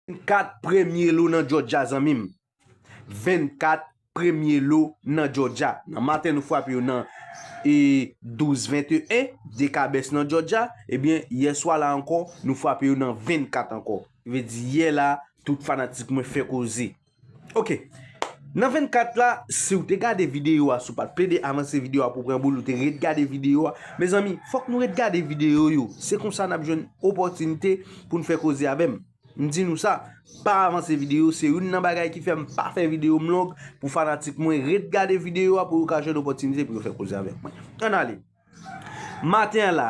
24 premye lo nan Jòjya zanmi m. 24 premye lo nan Jòjya. Nan maten nou frape yo nan e 12 21 dekabès nan Jòjya. Ebyen yè swa la ankò nou frape yo nan 24 ankò. Vle di yè la tout fanatik mwen fè koze. Ok Nan 24 la si ou te gade video a si ou pat plede avanse video a pou pran boul ou te ret gade video a mezanmi fòk nou ret gade video yo se konsa nap jwenn opòtinite poun fè koze avèm m di nou sa pa avanse video se youn nan bagay ki fèm pa fè video m long pou fanatik mwen ret gade video a pou yo ka jwenn opòtinite pou yo fè koze avèk mwen an ale maten an la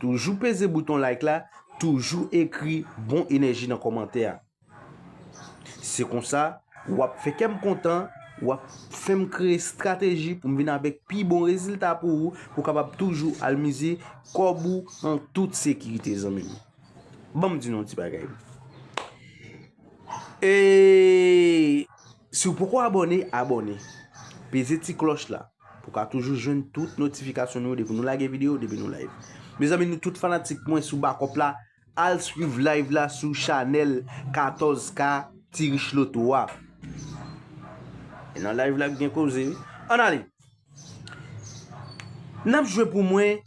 Toujou peze bouton like la, toujou ekri bon enèji nan kòmantè a. Se konsa, wap fè kèm kontan, wap fèm kreye strateji pou m vin avèk pi bon rezilta pou ou, pou kapab toujou al mize kòb ou an tout sekirite zanmim. Banm di nou yon ti bagay. E si w poko abòne, abòne. Peze ti klòch la. Pou ka toujou jwenn tout notifikasyon nou depi nou lage video depi nou live. Mezanmi nou tout fanatik mwen sou bakop la al swiv live la sou chanel 14 k ti rich loto a. E nan live la gen koze wi. An ale. Nap jwe pou mwen.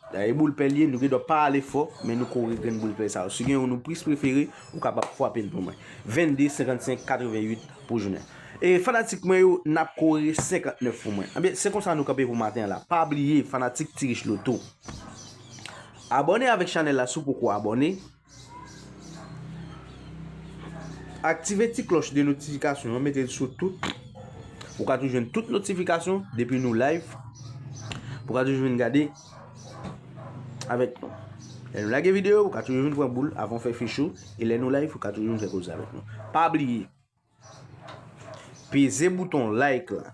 Da e boul pèl ye nou gen dwa pa ale fò men nou kore grenn boul pèl sa yo si gen yon nou plis prefere ou kapab fwape l pou mwen 22 55 88 pou jounen e fanatik mwen yo nap kore 59 pou mwen ebyen se konsa nou kanpe pou maten an la pa bliye fanatik ti rich loto abòne avèk chanèl la si w poko abòne. Aktive ti klòch de notifikasyon an mete l sou tout pou ka toujou jwenn tout notifikasyon depi nou live pou ka toujou vin gade avèk nou. Lè nou lage video pou ka toujou vin pran boul avan fè fichou e lè nou live pou ka toujou vin fè koze avèk nou. Pa bliye! Peze bouton like la.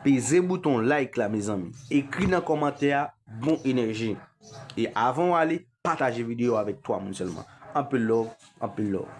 Peze bouton like la mezanmi. Ekri nan kòmantè a bon enèji. E avan w ale, pataje videyo avèk 3 moun sèlman. Anpil love, anpil love.